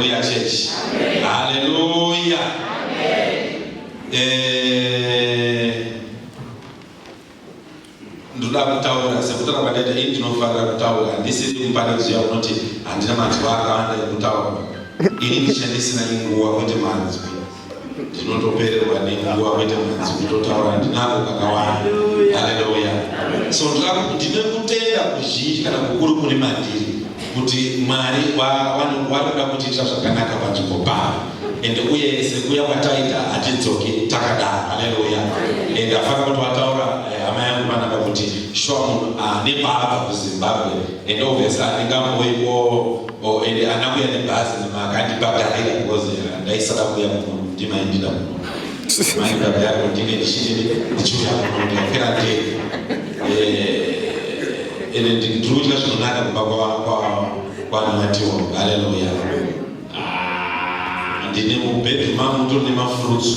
Haleluya church. Haleluya. Eh, ndoda kutaura sekutaura kwataita ini ndinofarira kutaura ndisiri kumupanikidzwa unoti handina manzwa akawanda ekutaura ini ndishandisina inguva kwete manzwi ndinotopererwa nenguva kuita mudzi kutotaura ndinako kakawanda haleluya so ndine kutenda kuzhinji kana kukuru kuri mandiri kuti mwari wanoda kutiitira zvakanaka panzvimbo pavo ende uye sekuya kwataita hatidzoki takadaro haleluya ende afana kuti wataura eh, hama yangu vanaka kuti shuwa munhu ah, nepaabva kuzimbabwe ende ovhesa andingamboiwo Oh, ende anakuya nebhazi noma akandipagarira because eh, ndaisada kuya muno ndimaindira muno maibabharo ndine ndichii ndichiuya muno ndikapera ndee eh, ende ndiriudya zvinonaka kumba kwanamatiwa haleluya ah, ndine mubedroom mangu ndiri nemafurutsu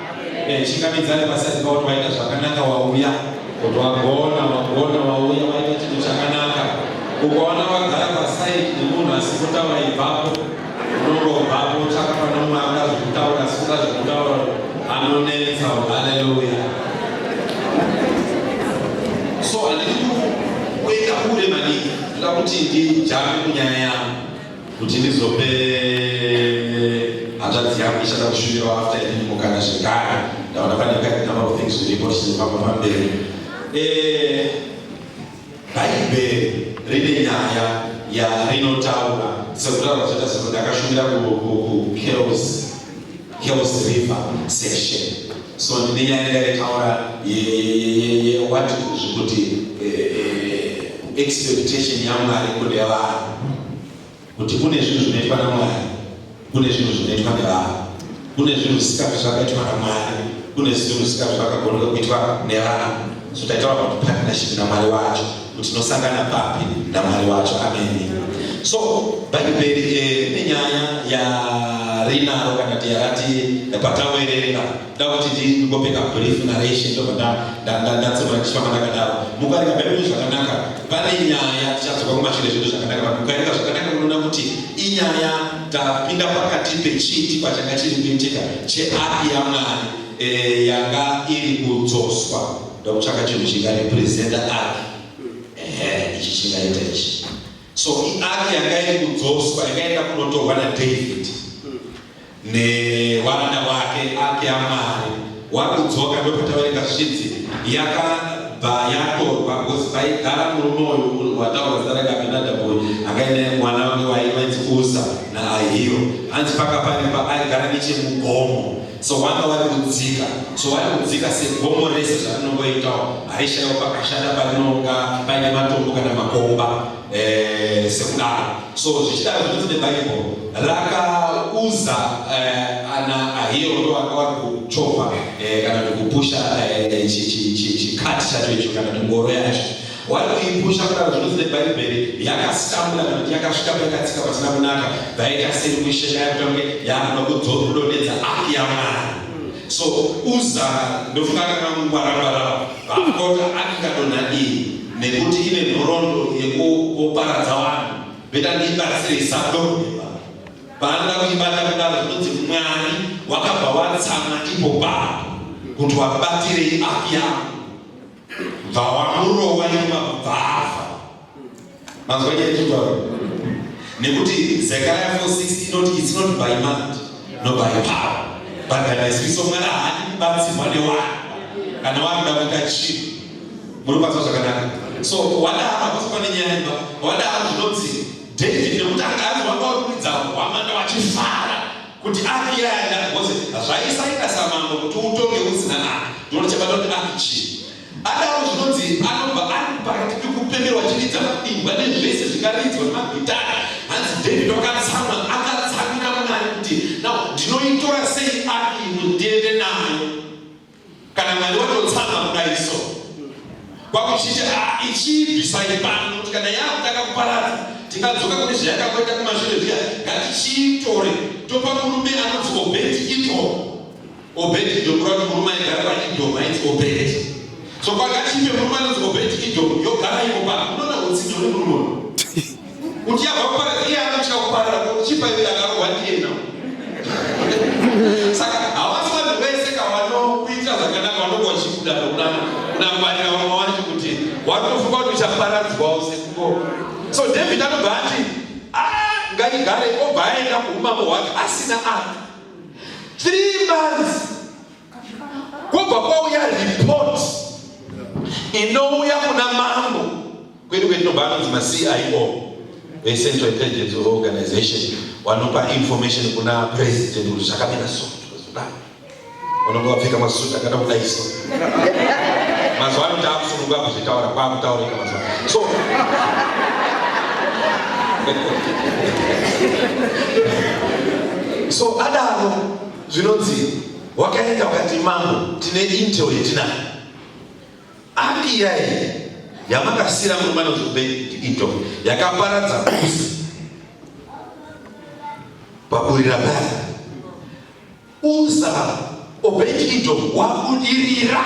Eh, chingamidzane vasati vaona vaita zvakanaka wauya kuti wagona wagona wauya waita chinhu chakanaka ukaona vagara pasaidi nemunhu asi kutaura ibvapo unongobvapo tsvaka pane mumwe angazi kutaura asi kungazi kutaura anonetsa haleluya so handidi kuenda kure maningi ndoda kuti ndijame kunyaya yangu kuti ndizope hanzvadzi yangu ichada kushuvirawo after ini mukana zvekare ndaona pane kati number of things zviripo tichizofamba pamberi eh, bhaibheri rine nyaya yarinotaura sekutaura zvata zvinhu ndakashuvira kukerosi Hills River section so ndine nyaya ndakaitaura yewati zvekuti expectation yamwari kune vanhu kuti kune zvinhu zvinoitwa namwari kune zvinhu zvinoitwa nevanhu kune zvinhu zvisikazvi zvakaitwa namwari kune zvinhu zvisikazvi zvakagoneka kuitwa nevanhu so taitaura kuti partnership namwari wacho kuti tinosangana papi namwari wacho ameni so bhaibheri eh, nenyaya yarinaro kana kuti yarati patawerera ndakuti ndingopeka brief narration ndobva ndatsoa ndichifamba ndakadaro mukaringa bhaibheri zvakanaka pane nyaya tichadzoka kumashure zvedu zvakanaka but mukaringa zvakanaka munoona kuti inyaya tapinda pakati pechiti pachanga chiri kuitika cheapi yamwari eh, yanga iri kudzoswa ndokutsvaka chinhu chingarepresenta ark ehe ichi chingaita ichi so iark yanga iri kudzoswa yakaenda kunotorwa nadavid nehwanda hwake ark yamwari wakudzoka ndopataurika zvichinzi yakabva yatorwa bcause vaigara murume uyu wataurwa zita rake abinadaboy akaenda mwana wange waivanzi usa naahiro hanzi paka paripa aigara nechemugomo so vanga vari kudzika so vari kudzika segomo rese zvarinongoitawo haishaiwo pakashata parinonga paine matombo kana makomba eh, sekudaro so zvichidaro zvinoti nebhaibheri rakauza eh, ana ahiro ndo vanga vari kuchovha eh, kana kuti kupusha chikati chacho icho kana kuti ngoro yacho Wari kuipusha kudaro zvinonzi neBhaibheri yakasambura kana kuti yakasvika paikatsika pasina kunaka vaita sei kuisheka yakutange yaamba kudzora kudonhedza aki yamwari so uza ndofunga kana kungwarangwara vakota akikadonha iyi nekuti ine nhorondo yekuparadza vanhu veta ndiibatsire isadoheba paanoda kuibata kudaro zvinonzi mwari wakabva watsama ipo papo kuti wabatirei aki yangu bva wamurowa nyuma bvava mazwa nyaya chitaura nekuti Zechariah 4:16 inoti it's not by might no by power but by my spirit so mwana haadi kubatsirwa newana kana wakuda kuita chinhu muri kubatswa zvakanaka so wadaro hakusi pane nyaya imba wadaro zvinonzi David nekuti anga azwa kwakuridza hwamanda wachifara kuti aki yaya ndati bose zvaisaita samambo kuti utonge usina aki ndonochabata kuti aki chii adaro zvinonzi anobva ari pakati pekupemerwa chiridza mabingwa nezvese zvingaridzwa nemagitara hanzi david wakatsamwa akatsamira munani kuti nao ndinoitora sei aki imwe ndiende nayo kana mwari watotsanga kudai so kwakuchichi ah, ichiibvisai pano kuti kana yakutanga kuparadza tingadzoka kune zvayakamboita kumashure zviya ngatichiitore topa murume anonzi obedi ito obedi ndokuva kuti murume aigara paidhoma inzi obedi so kwakatipe murume anonzi obedi idhoma yogara iko pano unoona utsinye hune murume kuti yabva kuparadza iye anotya kuparara chipa iye akarohwa ndiye nao saka havasi vanhu vese ka vanokuitira zvakanaka vanonga vachibuda nokuda kunangwarira vamwe vacho kuti watofunga kuti uchaparadzwawo sekuko so david anobva ati ah, ngaigare obva aenda kuumambo hwake asina aka three months Kubva kwauya report inouya kuna mambo kwedu kwetinobva anonzi maCIO veCentral Intelligence Organization wanopa information kuna president kuti zvakamira so zvakadai unenge wapfeka masuti akada kudai so mazuva ano taakusununga kuzvitaura kwaakutaurika mazuva so so adaro Zvinonzi wakaenda wakati mambo tine intel yetinayo api yaye yamakasira mumana zvobe intel yakaparadza kusi paburira baa usa obedi intel wakudirira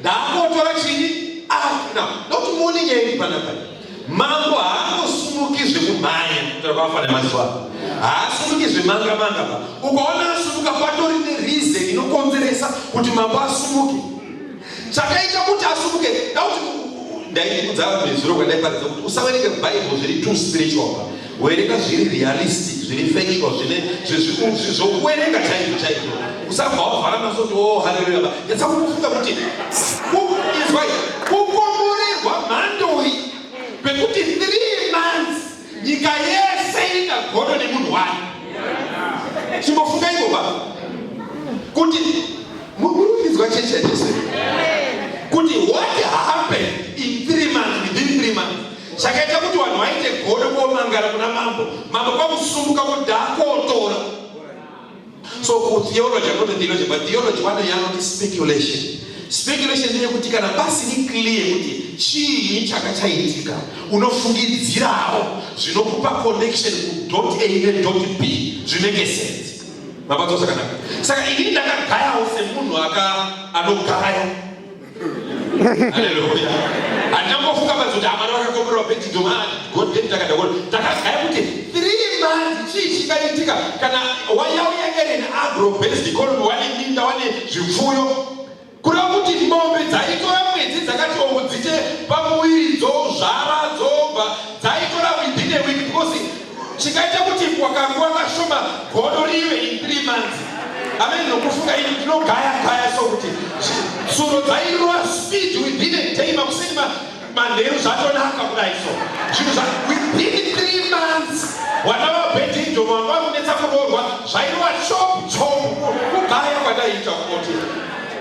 Ndaakotora chini akuna ah, nokuti muone nyaya iri panapa. Mambo haangosumuki zvekumhanya kutora kwafana mazuva ano. Haasumuki zvemanga manga pa. Ukaona asumuka patori nereason inokonzeresa kuti mambo asumuke. Chakaita kuti asumuke ndakuti ndaiudza nezuro kwandaiparidza kuti usaverenge Bible zviri too spiritual. Werenga zviri realistic, zviri factual, zvine zvezvikuzi zvokuwerenga chaizvo chaizvo. Usabva wavhara maso kuti oh haleluya ba. Yatsa kufunga kuti izwa kukomborerwa mhandoi kwekuti 3 months nyika yese ingagodo nemunhu wani. Chimbofunga iko ba. Kuti mukurudzwa chechi yaJesu. Kuti what happened in 3 months within 3 months Chakaita kuti vanhu vaite godo kuomangara kuna mambo, mambo kwakusumuka kuti dakotora. So kutheology, I'm not a theologian, but theology one day anoti speculation. Speculation ndiye kuti kana pasiri clear kuti chii chaka chaitika, unofungidzirawo zvinokupa connection ku dot A ne dot B zvinenge sense. Mabatosa kanaka. Saka ini ndakagayawo semunhu aka anogaya Haleluya. Handina kumbofunga panzi kuti amana vakakomborerwa pedzidzo manje God did takadakona. Takagaya kuti three months chii chingaitika kana wayauya Ellen agro based economy wane minda wane zvipfuyo kureva kuti mombe dzaitora mwedzi dzakati oku dzite pamuviri dzozvara dzobva dzaitora within a week because chikaita kuti kwa kanguva kashoma godo rive in three months amene nokufunga ini ndinogaya gaya so kuti tsuro dzairova speed within a day makuseni manheru zvatonaka kudai so zvinhu zva within three months wana vabhedhindo vanga vakunetsa kuroorwa zvairova chop chop kugaya kwandaiita kunoti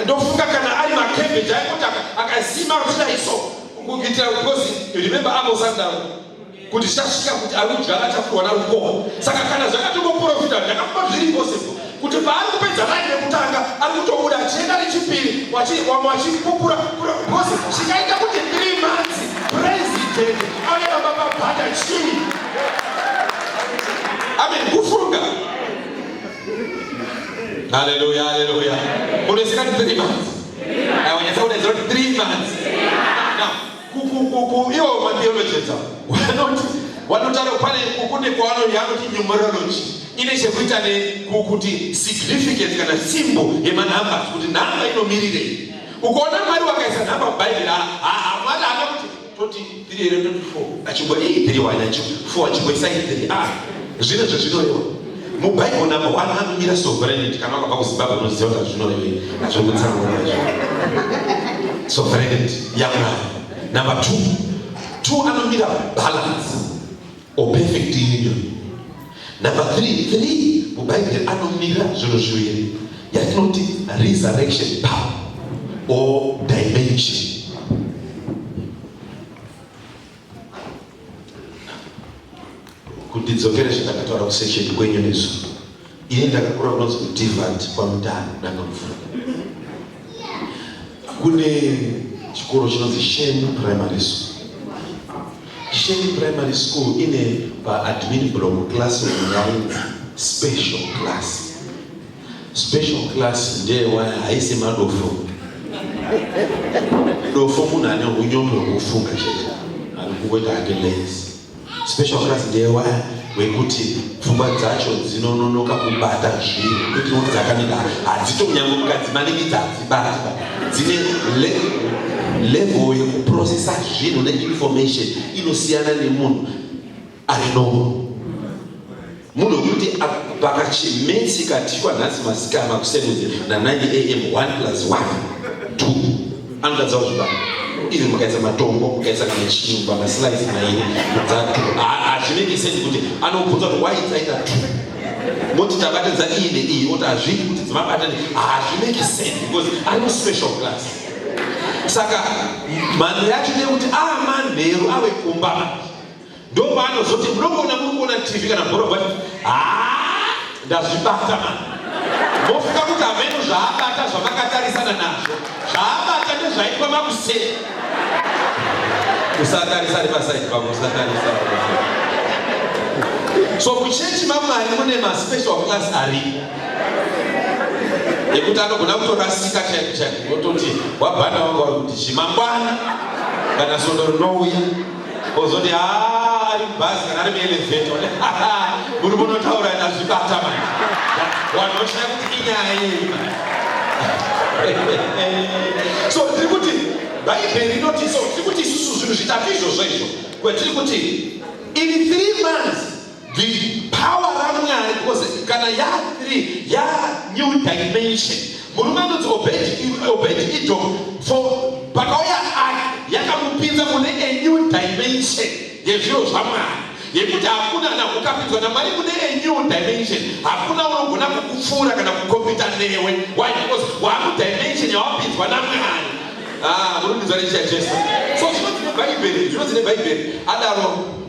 ndofunga kana ari makembeji aikoti akasima kuti dai so kuitira kukozi remember amos andaro kuti zvichasvika kuti ari kudya akatapurwa narukoho saka kana zvakatongoprofita zvakamba zviri impossible kuti paari kupedza rani rekutanga ari kutobuda achienda nechipiri wamwe wachipupura bcause zvikaita kuti three months president auya baba babhata chii amen kufunga haleluya haleluya unoisikati three months awanyatsa kudaidzira kuti three months kukukuku iwo mabiologeta vanoti vanotaro pane kukune kwavanoti anoti numerology ine chekuita nekukuti significance kana simbo yemanhamba kuti nhamba inomirirei ukaona mwari wakaisa nhamba mubhaibheri mwari ana kuti toti tiri here toti four achimbo ii tiri wani achi four achimboisai tiri a ah, zvine zvezvinorewa mubible number one anomira sovereignty kana wakabva kuzimbabwe unoziva kuti hazvinorevei hazviri kutsanangura izvo sovereignty yamwari number two two anomira balance or perfect union number three three mubhaibheri anomira zvinhu zviviri yatinoti resurrection power or dimension kuti dzokere zvandakataura kusesheni kwenyu nesu ini ndakakura kunonzi kudivant kwamutano danga mvura kune chikoro chinonzi sheni primary school sheni primary school ine paadmin blom class yainzi special class Special class ndeye waya haisi madofo. Dofo munhu ane unyombe hwekufunga chete ari kungoita hake lazy. Special class ndeye waya wekuti pfungwa dzacho dzinononoka kubata zvinhu kuti kuti dzakanaka hadzitonyange mukadzi maningi dzadzibata dzine level yekuprocessa zvinhu neinformation inosiyana nemunhu ari normal munhu wekuti pakachimesi katikwa nhasi masikama kusevenze na9 am 1 plus 1 2 anotadza kuzvibata ivi mukaisa matombo mukaisa kana chinhu pamaslice mairi dzatu hazvinenge sendi kuti anobvunza kuti why dzaita two moti tabatidza iyi neiyi oti hazvii kuti dzimabata hazvinenge sendi because ari muspecial class saka mhando yacho ndeyekuti amanheru ah, ave kumba ndopaanozoti munogona munogona tv kana bhoro but haa ndazvibata mani mofika kuti hameno zvaabata zvamakatarisana nazvo zvaabata ndezvaitwa makuseni usatarisa nepasaidi pavo usatarisa so kuchechi mamwari mune maspecial class ari ekuti anogona kutorasika chaiko chaiko ototi wabhana wangu vari kuti chimangwana kana sondo rinouya ozoti haa ari mubhazi kana ari muelevheta one muri munotaura ndazvibata mai vanhu voshaya kuti inyaya yei so tiri kuti bhaibheri inoti so tiri kuti isusu zvinhu zvitatu izvozvo izvo kwetiri kuti in three months the power ramwari because kana yathree ya new dimension murume anonzi obedi idom for pakauya ari yakamupinza mune a new dimension yezviro zvamwari yekuti hakuna na ukapinzwa namwari mune a new dimension hakuna unogona kukupfuura kana kukompita newe why because wamudimension yawapinzwa namwari ah, murumbidzwa nechiya jesu so zvinonzi nebhaibheri zvinonzi nebhaibheri adaro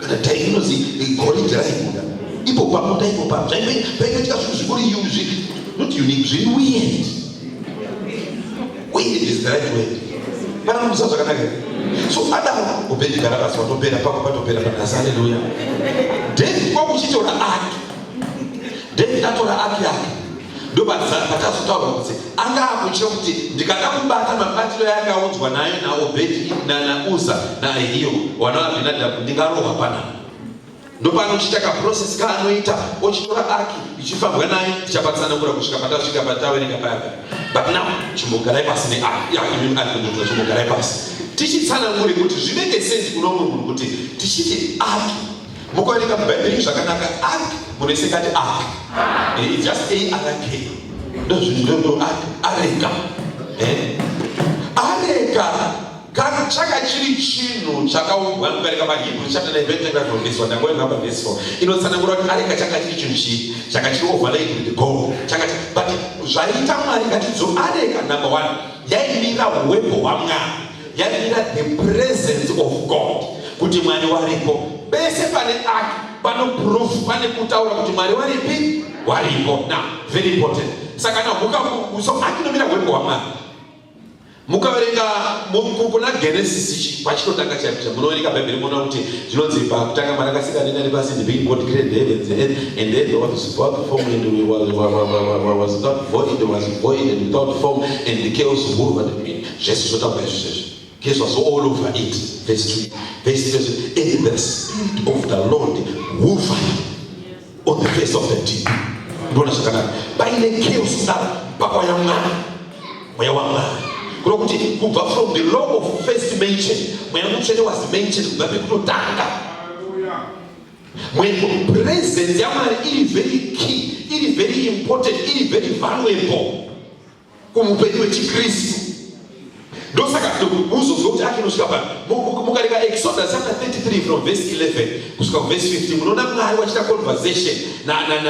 kana time inozi goridhe raibuda ipo pamunda ipo pam zvaimboitika zvinhu zvikuri yuzvi not unique zviri weird weird is the right word kana kumusa zvakanaka so adaro ubendigara basi watopera pako patopera panhasi aleluya david kwakuchitora ake david atora ake ake ndopatazotaura kuti anga akutya kuti ndikada kubata mabatiro yaakaunzwa nayo naobhedhi nanauza naahiyo wana abhinadhabhu ndingarohwa panapa ndopanochiita kaprocess kaanoita ochitora aki ichifambwa naye ichapatsanangura kusvika patasvika pataverenga payagara but now chimbogarai pasi neakiakimuta chimbogarai pasi tichitsanangure kuti zvinenge senzi kuno munhu kuti tichiti aki Mukuerenga muBhaibheri zvakanaka ark munoisekati ark. Eh, just a ark. Ndozvinhu ndo ark areka. Eh. Areka kana chaka chiri chinhu chakaumbwa kubereka mahibru chapter 9 verse 25 verse 1 ndangove number verse 4 inotsanangura kuti areka chaka chiri chinhu chii chaka chiri overlaid with gold chaka but zvaita mwari ngatidzo areka number 1 yaimira uwepo hwamwari yainga the presence of god kuti mwari waripo pese pane ake pano proof pane kutaura kuti mwari waripi waripo na very important saka na huka so akinomira hweko hwamwari mukaverenga kuna genesis ichi pachinotanga chapita munoverenga bhaibheri muona kuti zvinonzi pakutanga mwari akasika denga nepasi the being god created the heavens and earth and then was without form and was, was, was, was, was without void was void and without form and the chaos of over the Zvese zvotamba izvi zvese. Gezwa so all over it. Verse 2. Verse 3. And the spirit of the Lord hovered on the face of the deep. Mbona zvakanaka. Paine chaos kudaro pakwa ya mwana. Mweya wa mwana. Kuno kuti kubva from the law of first mention. Mweya mutsvene was mentioned kubva pekutotanga. Mweya presence ya Mwari iri very key, iri very important, iri very valuable. kumupenyu wechikristu ndosaka uzozwa kuti achinosvika pano mukareka exodus chapter 33 from verse 11 kusvika kuverse 15 munoona mwari wachita conversation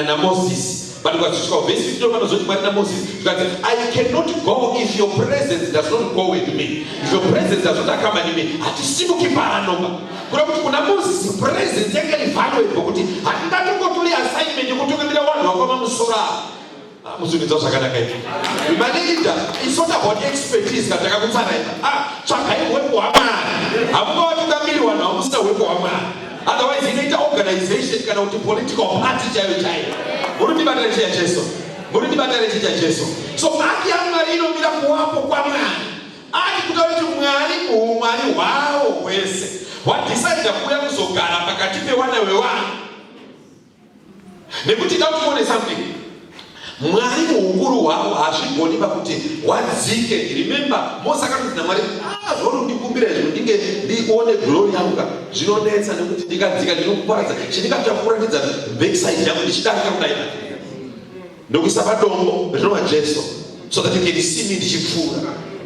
namoses but ukazosvika kuverse 15 vanozoti mwari namoses zvikanzi i cannot go if your presence does not go with me if your presence does not accompany me hatisimuki paanoba kuda kuti kuna moses presence yanga ivaluable kuti handingatongotori assignment yekutungamira vanhu vakwamamusoro avo Mudzimidza zvakanaka izvi. Manager, it's not about expertise kana takakutsaraidza. Ah, tsvagai hwepo hwamari. Hamuka watoda miri wanhu hamusina hwepo hwamari. Otherwise inoita organization kana kuti political party chaiyo chaiyo. Muri ndibatire chiya Jesu. Muri ndibatire chiya Jesu. So haki yaMwari inomira kuwapo kwaMwari. Ari kuda kuti Mwari muumwari hwawo hwese. Wadecide kuuya kuzogara pakati pewana wewanhu. nekuti ita kuti uone something mwari muukuru hwavo hazvigoni pakuti wadzike remember mose akanzi namwari ah, zvorundikumbira izvo ndinge ndione glori yangu ka zvinonetsa nekuti ndikadzika ndinokuparadza chindikatira kukuratidza backside yangu ndichidarika kudai ndokuisa padombo rinova jesu so that you can see me ndichipfuura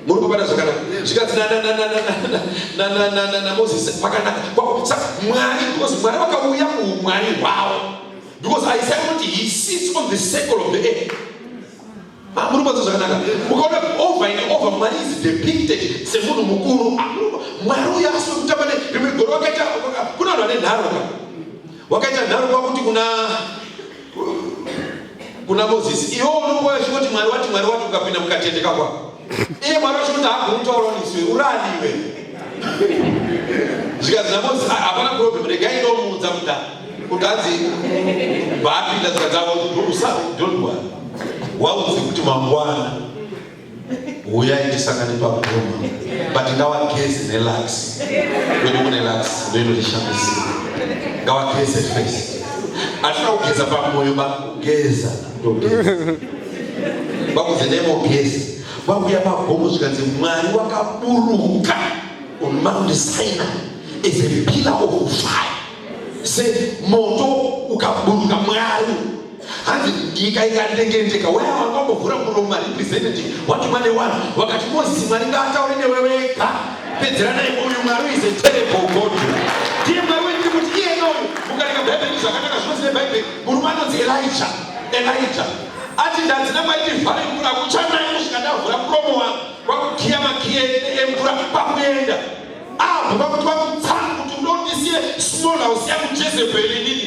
muri kupata zvakanaka zvikanzi namozisi pakanaka mwari because mwari vakauya muumwari hwavo because isaya kuti he sits on the circle of the air ah, muri kupata zvakanaka ukaona over and over mwari is depicted semunhu mukuru ah, mwari uya asi wekutamba ne rimwe goro wakaita kuna vanhu vane nharo ka Wakaita nharo kwakuti kuna kuna Moses, iwo unongoya chingoti Mwari wati Mwari wati ukapinda mukatendeka kwa. Iye Mwari wachingoti hakumutaura niswe uraniwe. Zvikanzi naMoses ah, hapana problem regai ndomuudza muda. Kutanzi baapinda zvikadzavo don't worry. Waudze kuti mangwana huyai tisangane pagoma but ngawageze nelux kwedu kune lux ndoinotishandisira ngawageze first atina kugeza pamoyo bakugeza bakuzi nemogezi vakuya pagomo zvikanzi mwari wakaburuka on mount sina is a pillar of fire se moto ukaburuka mwari hanzi nyika ikandengendeka waya wakambovhura muromo marepresentative wati mwane wani wakati mozi mwari ngaataure newe wega pedzera naye uyu mwari is a terrible god ndiye mwari wendi kuti iye noyo mukareka bhaibheri zvakanaka zvinonzi nebhaibheri murume anonzi elija elija ati ndadzina maiti vhare mvura kuchanaye kusvika ndavhura muromo wangu kwakukiya makiye emvura kwakuenda abva kwakuti kwakutsangu kuti ndondisiye small house yangu jezebheri inini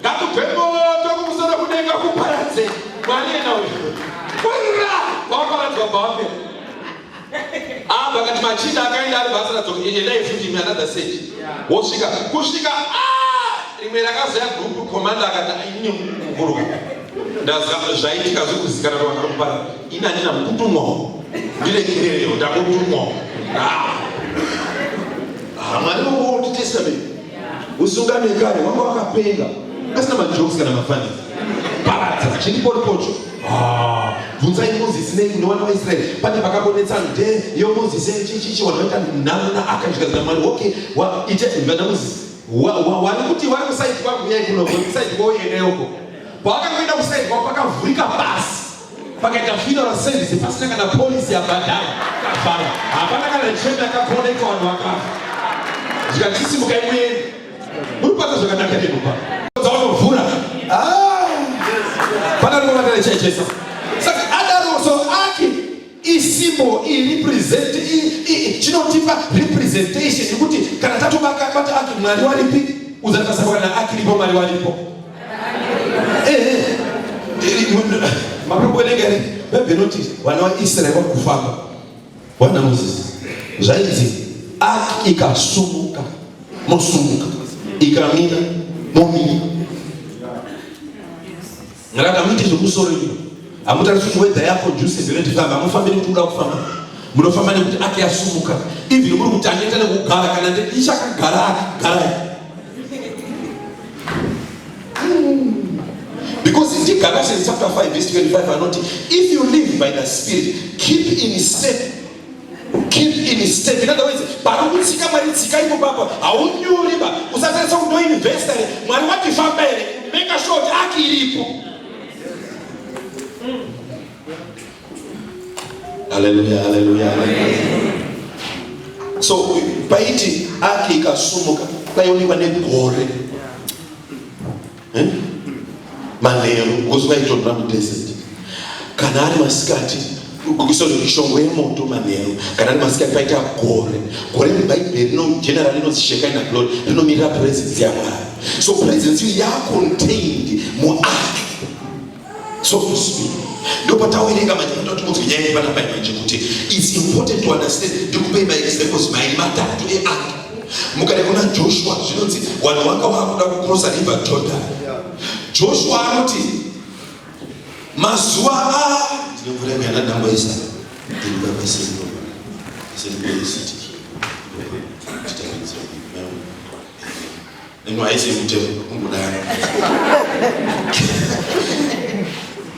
Ngakubve moto kumusoro kudenga kuparadze mwari yena uyu. Kurira waparadzwa bhambe. Ah vakati machinda akaenda ari basa radzoka endai futi imi another stage. Wosvika kusvika ah rimwe rakazoya group commander akati ini kuburuka. Ndazama zvaitika zvekuzikana vanhu vanopara ini andina mukutumwa ndirekerero ndakutumwa. Ah. Ah mwari wangu testament usungane kare wanga wakapenga asina majokes kana mafanisi paradza chiripotipocho ah, bvunzai mozisi nei kune vana vaisraeri pane vakabonetsa nde yo mozisi chichichi vanhu vaita nhano naakazvikazina mwari okay ite vana mozisi wari kuti vari kusaidi kwakuyai kunosaidi kwauyeneoko pawakangoenda kusaidi kwako pakavhurika basi pakaita funeral service pasina kana polisi yabhadhara kafara hapana kana chembe akakoneka vanhu vakafa zvikatisimukai muende muri kuata zvakanaka nekupa dzaunovhura ah! pana rinovatana chaichesa isymbol irepresent chinotipa representation yekuti kana tatobaka bata ake mwari waripi uzatasabwa na akiripo mwari waripo maproboenegari bhaibheri noti vana vaisraeri vakufamba wana mozisi zvainzi ak ikasumuka mosumuka ikamira momira Ngaka muite zvekusoro imi. Hamutariswi kuti wedha yako juice zero tifamba. Hamufambi nekuti uda kufamba. Munofamba nekuti ake yasumuka. Even muri kuti anoita nekugara kana ndichakagara akagara. Because in Galatians chapter 5 verse 25 anoti if you live by the spirit keep in step keep in step in other words pari kutsika mwari tsika iko papa haunyuri ba usatarisa kuti ndoinvesta here mwari watifamba here meka sure kuti aki iripo haleluya haleluya so paiti aki ikasumuka kwaionekwa negore eh? manheru ngozi vaitorora mudesert kana ari masikati sorry shongwe yemoto manheru kana ari masikati paita gore gore mubhaibheri rino general inonzi shekaina glory rinomirira presence yamwari so presence iyo yacontained muark so to speak ndopatawerenga manje kuda kuti munzwe nyaya yevana mai manje kuti its important to understand ndikupei maexamples mairi matatu eantu mukade kuna joshua zvinonzi vanhu vanga vakuda kucrossa river jordan joshua anoti mazuva a ndinomvura muyana ndamboisa ndiribabaisei Send me the city. Ino haisi mutemo kungodaro.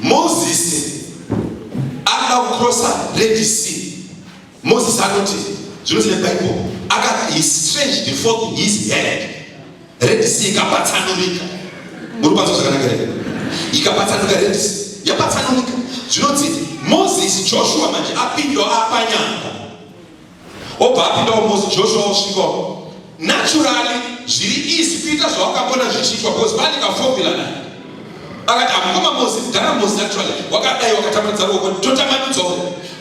Moses anoda kucrossa Red Sea. Moses anoti zvinhu zvine Bible akati he stretched the forth his hand. Red Sea ikapatsanurika. Muri kwanza zvakanaka here? Ikapatsanuka Red Sea. Yapatsanurika. Zvinonzi Moses Joshua manje apindwa apanyanga. wobva apinda umosi joshua osvika naturally zviri easy kuita zvawakambona zvichiitwa bcause pane kaformula naye akati amukoma mosi mudhara mosi naturally wakadai wakatambanudza ruoko totambanudzwa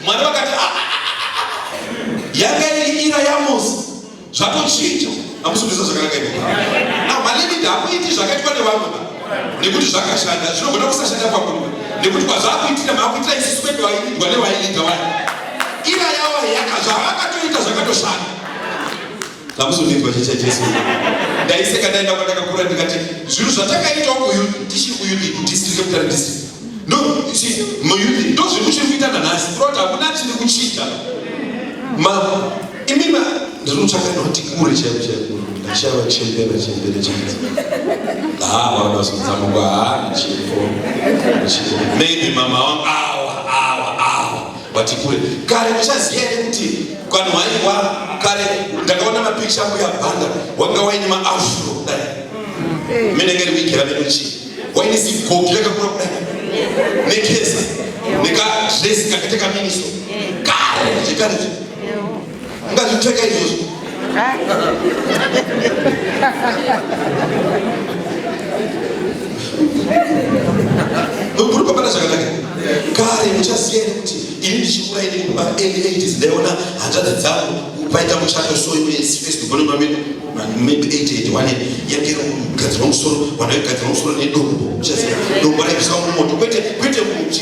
mwari vakati ah, ah, ah, yanga iri ira yamosi zvatochinja amusubiza zvakanaka ivo now malimidi hakuiti zvakaitwa nevamwe nekuti zvakashanda zvinogona kusashanda kwamuri nekuti kwazvakuitira makuitira isusu kwedu vaidwa nevaiida wai ira yavo yaka zvavakatoita zvakatoshanda zvamuzondirwa chicha chesu ndaiseka ndaenda kwandakakura ndikati zvinhu zvatakaita kuyu tichiri kuyudi district capital district no si muyudi ndo zvinhu chiri kuita nanhasi kuroti hakuna chiri kuchita ma imima Ndinotsvaka noti kure chaiko chaiko ndashava chembera chembera chaidzo. Haa vana vazotsamuka haa chifo. Maybe mama wangu awa awa awa vati kure. Kare ndichaziya here kuti kwani waiwa kare ndakaona mapikicha angu ya bhanga wanga waine maafro kudai. Mimi ndingeri wigera medu chii. Waine sigogi yakakura kudai. Nekesa. Nika dress kakateka miniso. Kare ndichikare. Ungazvipfeka izvozvo. Ukurukopana zvakanaka. Kare muchaziya kuti ini ndichikura ini kuma early 80s ndaiona hanzvadzi dzangu paita muchato so iwe face to bone mamene maybe 88 wane yakero kugadzirwa musoro wanaigadzirwa musoro nedombo uchaziya dombo raibviswa mumoto kwete kwete muchi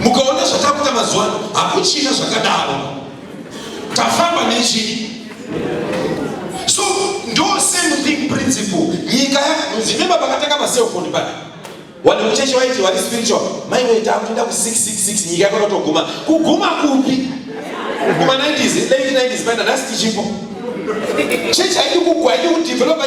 mukaona zvatakuita mazuva ano hakuchina zvakadaro tafamba nechii so ndo same thing principle nyika zvinema pakatanga maselfoni pana wani mucheche waiti wari spiritual mai vaita kuenda ku 666 nyika yakonotoguma kuguma kupi kuma 90s late 90s paina nhasi tichipo chechi haidi kugwa haidi kudevelopa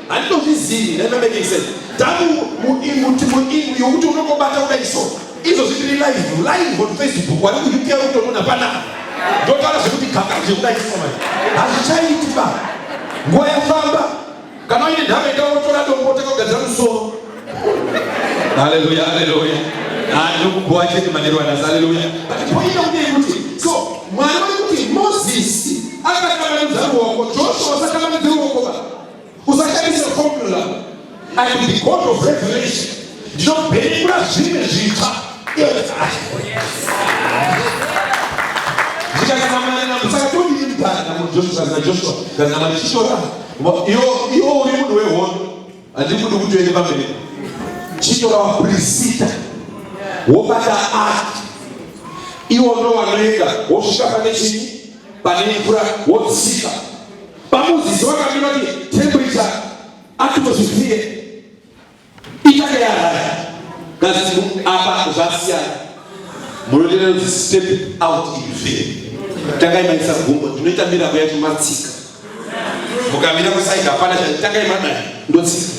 handinozvizivi that not making sense tamu muinguti muingu yokuti unongobata kudai so izvo zvitiri live live on facebook wari kuuka kutonona panapa ndotaura zvekuti gaka zvekudai so manje hazvichaiti ba nguva yafamba kana uine nhamo ita wotora dombo takagadzira musoro haleluya haleluya anokubhowa chete manero anasi haleluya but point yakudei kuti so mwari vari kuti mozisi akatanga nemuzani wako joshua sakatanga usashandise formula and the god of revelation ndinobhenekura zvimwe zvitsva ndikakanamanana musakatondiri mudhara namujoshua najoshua ndanamana chishora iwo uri munhu wehondo handiri kudi kuti uende pamberi chishora waprisita wobata ati iwo ndo wanoenda wosvika pane chii pane mvura wodzika Pamuzizi wakati vati temperature atmosphere ichake yaraya kazi apa zvasiyana munotenda kuti step out in faith tangai maisa gumbo tinoita mirako yacho matsika mukamira kusaidi hapana tangai madai ndotsika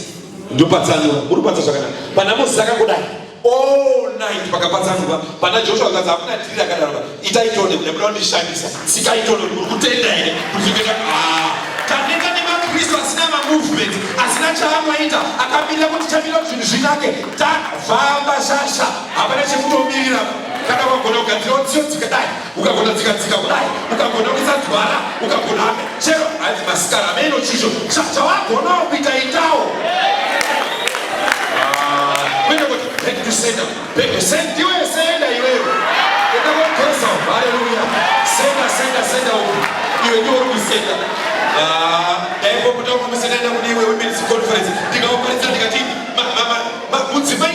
ndopatsanura muri kupatsa zvakanaka panamozisi akangodai all night pakapatsanurwa pana joshua kazi hakuna dhiri akadaro itai tone kuda kuda kundishandisa sikai tone kuti uri kutenda here kuti kuita ah, taneta nemakristu asina mamovement asina chaamwaita akamirira kuti chamira kuti zvinhu zvinake tafamba shasha hapana chekutomirira kana wagona kugadzira udziyo dzikadai ukagona tsika tsika kudai ukagona kuisa dzwara ukagona ame chero hanzi masikana ame ino chisho chawagonawo kuita itawo kwete kuti back to sender back to send ndiwe senda iweyo enda kokosa haleluya senda senda senda uku iwe ndiwe uri kusenda daipokutokumusendenda kune iwe women's conference ndikaoparidza ndikati mudzimai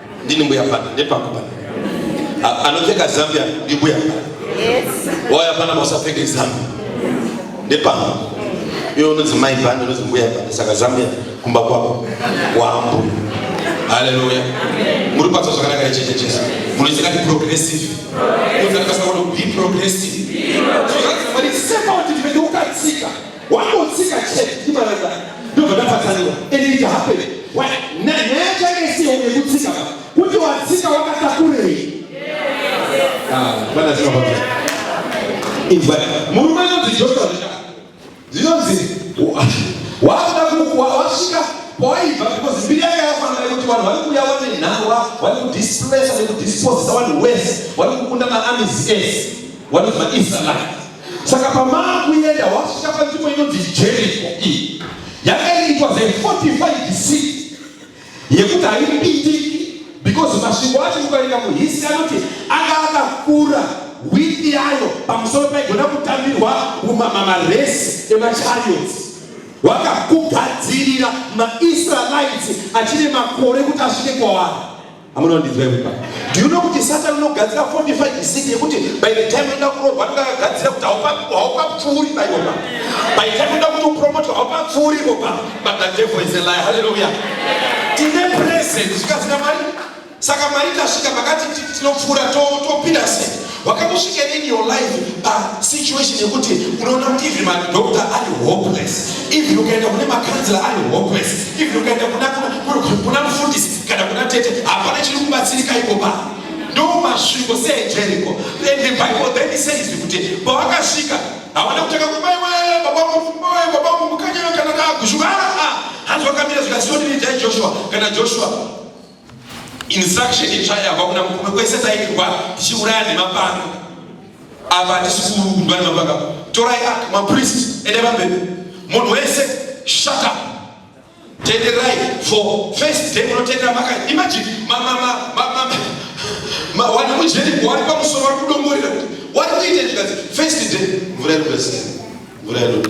Ndini mbuya pana nepangu pana. A- Anopfeka zambia ndi mbuya pana. Waya pana musapfeke zambia. Nepangu. Iwe unonzi mai pana unonzi mbuya pana saka zambia kumba kwako wambu. Haleluya. Muri patsa zvakanaka icheche Jesu. Munoita kati progressive. Munoita kati be progressive. So that's what it's about. Ndimene ukatsika. Wangotsika chete ndimaranda ndobva ndapatsanirwa and it happened. Why? Nyaya chake isiyo yekutsika ba. Kuti watsika wakatakurei? Ah, bana zima baba. Inzwa. Murume anonzi Joshua zvaka. Zvinonzi wakuda kuwa wasvika kwawaibva because mbiri yake yafanana yekuti vanhu vari kuuya vane nhangwa vari kudisplace nekudisposisa vanhu wese vari kukunda maamizi ese vanonzi maisrael Saka pamaa kuenda wasvika panzvimbo inonzi Jeriko iyi yakaitwa ze 45 seat yekuti haipindiki because masvingo acho mukaenda muhisi anoti anga akakura witi yayo pamusoro paigona kutambirwa umama maresi emachariots wakakugadzirira maisraelites achine makore kuti asvike kwavari Amuna ndinzwa imba. Do you know kuti Satan unogadzira 45 isidi yekuti by the time unoda kuromba anenge akagadzira kuti haupa haupa pfuuri na ivo baba. By the time unoda kuti upromote haupa pfuuri ivo baba. But the devil is a liar. Hallelujah. Tine present zvikazika mari. Saka mari tasvika makati tinopfuura topinda to sei? Wakambosvika in your life pa situation yekuti unoona kuti even madoctor ari hopeless, even ukaenda kune makanzela ari hopeless, even ukaenda kuna kuna mufundisi kana kuna tete, hapana chiri kubatsirika iko pa ndo masviko seejeriko. And the Bible then it says kuti pawakasvika hawana kutanga kubaiwa babangu babangu mukanyana kana kushuka hanzi wakamira zvikasioni nidai Joshua kana Joshua Instruction itsva yabva kuna murume kwese tairwa tichiuraya nemapanga apa hatisi kurundwa nemapanga torai ak mapriest ende pamberi munhu wese shut up tenderai for first day munotendera maka imagine wani mujeri wari pamusoro vari kudongorera kuti wari kuita ndikazi first day mvura iri kwese mvura iri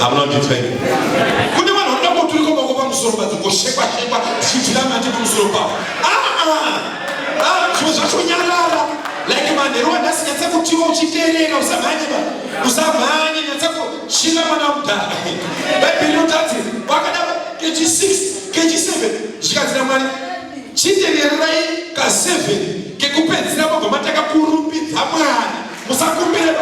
hamuna kundinzwa ini kune vanhu vanoda kuturikwa mako pamusoro padzo ngoshekwa shekwa dzichitira mati pamusoro pavo zvimwe zvacho nyarara like manheru andasinyatsa kutiwa uchiterera usamhanye ba usamhanye nyatsa kuchina mwana mudhara bhaibheri rinotati wakada kechi 6 kechi 7 zvikanzira mwari chiterererai ka 7 kekupedzira magoma takakurumbidza mwari musakumbire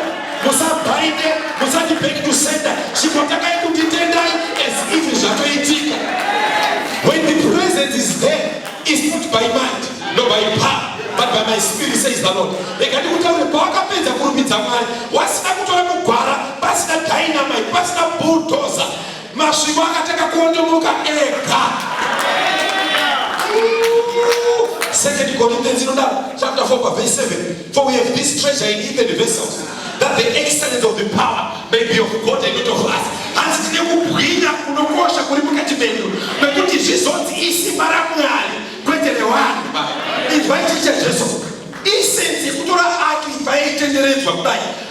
musabhainde musati back to sender chikotakai kunditendai as if zvatoitika when the presence is there is not by mind no by power but by my spirit says the lord rega ndikutaure pawakapedza kurumbidza mwari wasina kutora kugwara pasina dynamite pasina bulldozer Masvingo akatanga kuondomoka ega. Second Corinthians inodaro chapter 4 pa verse 7 for we have this treasure in earthen vessels that the excellence of the power may be of God and not of us. Hanzi tine kubwinya kunokosha kuri mukati medu nekuti zvizonzi isimba raMwari kwete rewanhu. Izvai chicha Jesu isenzi yekutora aki paitenderedzwa kudai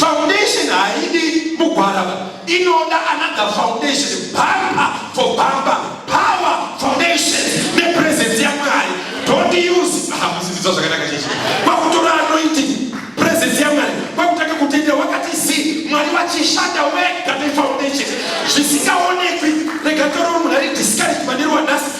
Foundation haidi mugwarava, inoda another foundation, bumper for bumper, power foundation nepresence yaMwari. Don't use hamusidzwa zvakanaka chechi kwakutora anointing presence yaMwari kwakutanga kutendera wakati zi Mwari wachishanda wega nefoundation zvisikaonekwi. Rega toro munhu ari discouraged manero wanhasi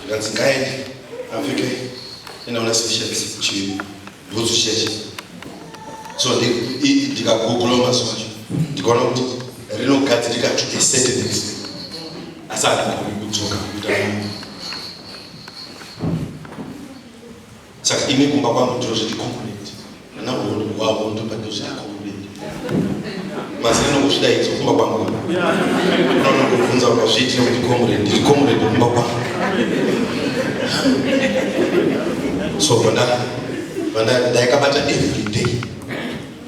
zvikanzi ngaende apfeke inaona sisheti chibhutsu chechi so ndikagugula mazuva acho ndikaona kuti rinogadzirika to a certain extent asi handikoni kudzoka kuita Saka ini kumba kwangu ndiro zviti concrete. Ana honi wavo ndo pando zviti concrete. Mazina nokusvida idzo kumba kwangu. Unono kuvunza kwazviti nokuti comrade, ndiri comrade kumba kwangu. So vanda vanda ndaikabata every day.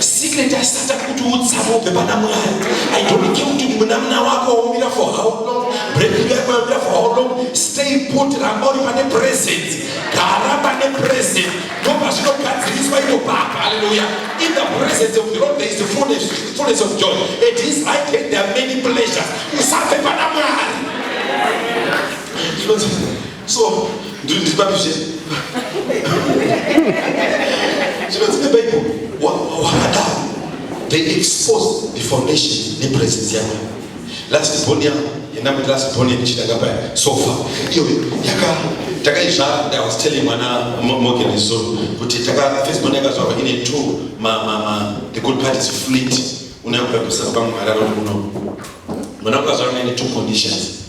secret asata kuti utsamo ubve pana mwari i don't care kuti munamuna wako waumira for how long breaking yako yaumira for how long stay put ramba uri pane present gara pane present ndopazvinogadziriswa ino papa haleluya in the presence of the lord there is the fullness, fullness of joy at his right hand there are many pleasures usabve pana mwari so ndiri ndiri papi zvese zvinonzi nebible wakadaro they expose the foundation nepresence yako last born yako yenda kuti last born yekuchitanga paya sofa iyo yaka takaizvara i was telling mwana morgan izuru kuti taka first born yakazvarwa ine two ma, ma, ma, the good part is fleet unayokuda kusaka pamwe mararo uno mwana ukazvarwa ine two conditions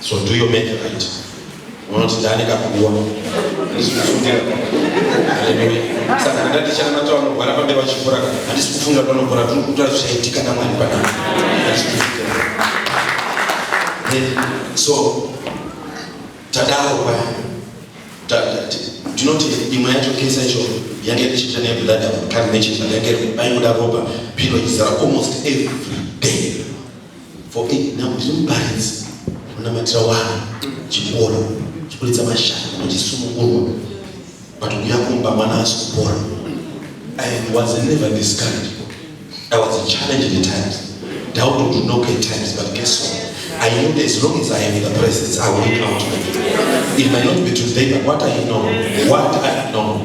So do your make right. Unoti ndani kakuwa. Ndisi kufundira. Haleluya. Saka ndati chana matawa nogwara pambe vachifura kana. Handisi kufunga panogwara turi kutora zvichaitika namwari panapa. Handisi kufunga. So tadaro paya. Tinoti imwe yacho kesa icho yange ichiita neblood of carnation yange baingoda ropa pino izara almost every day. for eight now ndiri muparidzi unamatira wana chikoro chikuridza mashaka machisunungurwa but kuya kumba mwana asi kupora i was never discouraged i was a challenge in the times doubt to knock at times but guess what I know that as long as I am in the presence, I will come to you. It might not be today, but what I know, what I know,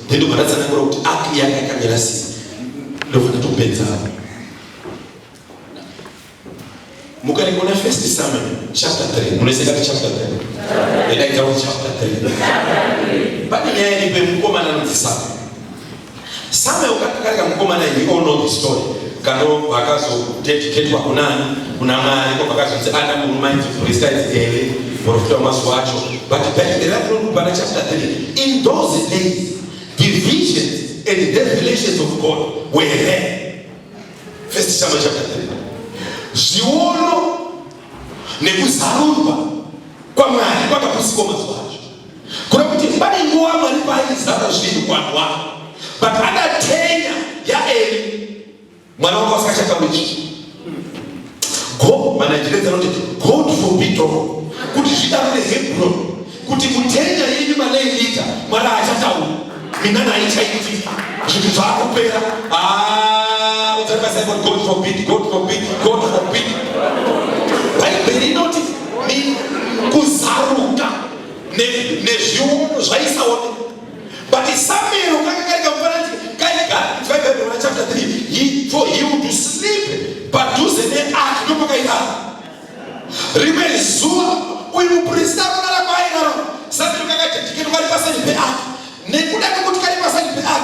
then ukaratsanangura kuti app yanga yakamira sei ndobva ndatopedzawo mukaringona first summon chapter 3 munoiseka kuti chapter 3 edaidzawo chapter 3 pane nyaya iripo yemukomana anonzi sama sama ukakarika mukomana he all know the story kano vakazodedicatwa kunani kuna Mwari ko vakazviti ana murume ainzi Brista is Eli muprofita wemazuva acho but Bible rakunoku pana chapter 3 in those days divisions and revelations of God were there first Samuel chapter 3 zviono nekuzarurwa kwaMwari kwakapusikwa mazuva acho kuna kuti pane nguva Mwari paaizara zvinhu kwanhu wavo but adatenya yaEli mwana wako asikachatauri chichi go manajira dzakuti god forbid kuti zvidarire hebron kuti mutenya yenyu maleilita mwana achataura mina naye chaiti zvinhu zvakupera ah, udzarimasaikoti god forbid god forbid god forbid bhaibheri inoti kuzaruka nezviono zvaisaoneka But Samuel kanga kari kamufananzi kaigadzwa Bhaibheri na chapter 3 he for he would sleep padhuze neark ndopakaigara. Rimwe zuva uyu muprista anorara kwaairara Samuel kakajajikeni kari paside peark nekuda kwekuti kari paside peark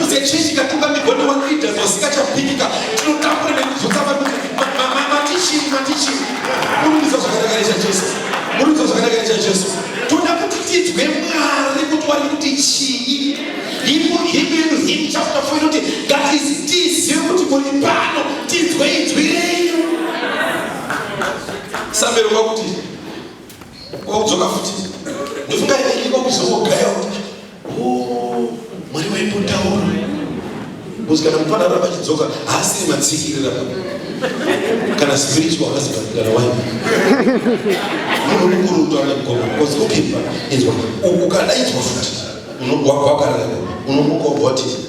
Muzechechi katungamirwa newaleaders wasikachapikika tinotambura nekubvunza vanhu kuti matichii matichii murikuza zvakanakana chajesu murikuza zvakanakana chajesu toda kuti tidzwe mwari kuti wari kuti chii himo himo yedu him chapter 4 inoti that is tizive kuti muri pano tidzwe idzwi renyu sambero kwakuti Kwakudzoka futi. Ndofunga ini kwakuzongogaya kuti oh mwari waimbotaura. Kuti kana mupana ramba chidzoka haasiri matsikirira papa. Kana spiritual husband kana wife. Unokurutu ana mkoma because ukimba inzwa ukadaidzwa futi unogwagwa kana unomuka voti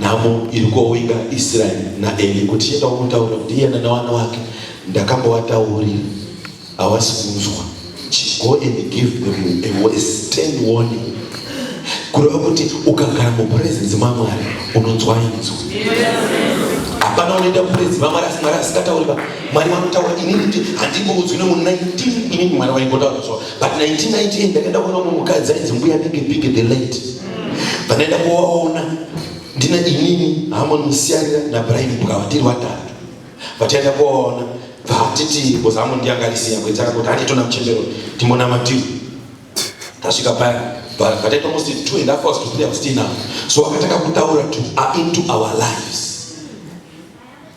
Nhamo iri kowinga Israel naEli kuti chienda kunotaura kuti iye nanawana wake ndakambowataurira hawasi kunzwa. Go and give them a worse ten warning. Kureva kuti ukagara mupresence maMwari unonzwa inzwa. Hapana unoenda mupresence maMwari asi Mwari asingatauri ba. Mwari vanotaura inini ndi handingomudzwi nemu 19 inini Mwari waingotaura so but 1998 ndakaenda kuona mumukadzi ainzi mbuya big big the late. vanoenda kuvaona ndina inini hamon musiyarira nabrian bukava tiri vatatu vataenda kuvaona vatiti bcause hamon ndiangarisiya kuenzaka kuti handitona muchembero timonamatiwo tasvika paya vataita almost two and half hours to three hours tinawo so vakatanga kutaura to into our lives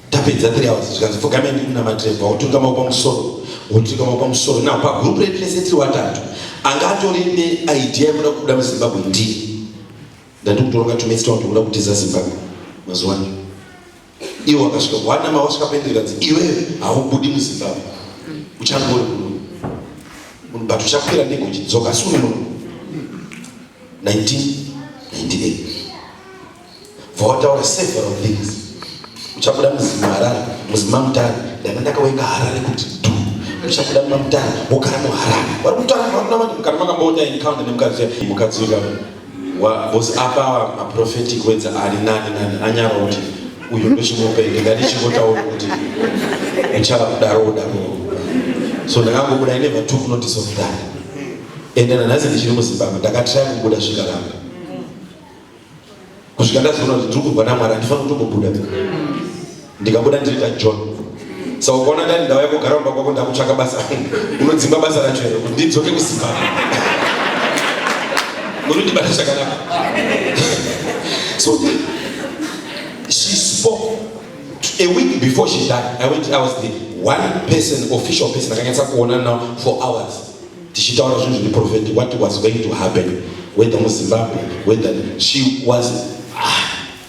tapedza 3 hours zvikanzi pfugame ndiri na matreva wotunga maoko pamusoro wotunga maoko pamusoro na pa group redu rese tiri watatu anga atori ne idea yekuda kubuda mu Zimbabwe ndiri ndati kutoronga to meet town kuda kutiza Zimbabwe mazuva ano iwo akasvika wana ma wasvika pendi kanzi iwe haubudi mu Zimbabwe uchangori kuno munhu but uchakwira ndege uchidzoka sunu muno 19 98 vawataura several things uchabuda muzimu harare muzima mutare ndanga ndakawenga harare kuti du uchabuda muma mutare wogara muharare vari kutanga vakunamati mukana makamboona encounter nemukadzi mukadzi uya was apa maprophetic wedza ari nani nani anyara kuti uyu ndochimupenge ngandichingotaura kuti uchava kudaroo daroo so ndakangobuda ine vatu kunotice of that ende nanhasi ndichiri muzimbabwe ndakatrai kubuda zvikaramba kusvika ndazoona kuti ndiri kurwa namwari handifani kutombobuda ndikabuda ndiri tajohn sa ukaona ndani ndauya kugara mumba kwako ndakutsvaka basa unodzimba basa racho here kuti ndidzoke kusimba munondibata zvakanaka so she spoke a week before she died i went i was the one person official person akanyatsa kuona now for hours tichitaura zvinhu zviri prophetic what was going to happen whether muzimbabwe whether she was ah,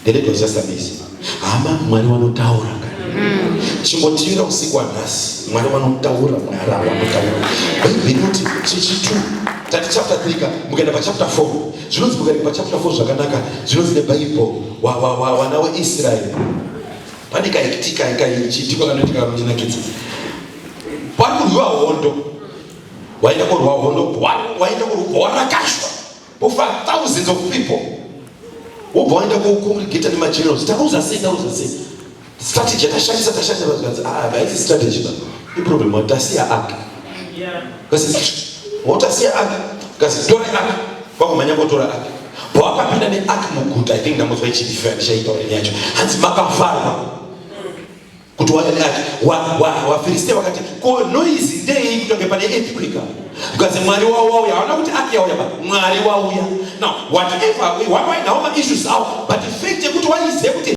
the lady was just amazing hama mwari wanotaura mm. chimbotiira usiku wanhasi mwari wanotaura mwari wanotaura vekuti chechitu tati chapter 3 ka mukaenda pachapter 4 zvinonzi mukaenda pachapter 4 zvakanaka zvinonzi nebaible wana weisraeri pane kaitika ikaichiitika kanoitika kanotinakidza kwari kurwiwa hondo waenda korwa hondo waenda korwa rakashwa ofa thousands of people wobva waenda kocongregata nemagenerals taruza sei taruza sei strategy yakashandisa tashanda vazikanzi ah haisi strategy ba iproblem watasiya aka kasi wotasiya aka kasi tore aka kwakumhanya kotora aka pawakapinda neaka muguta i think ndamotswa ichidifira ndichaitaura yacho hanzi makafarwa kuti waati wafiristia wakati ko noise ndeyei kutange pane earthquake because mwari wavo wauya haona kuti aki yauya ba mwari wauya now whatever why now ma issues awo but fact yekuti waizive kuti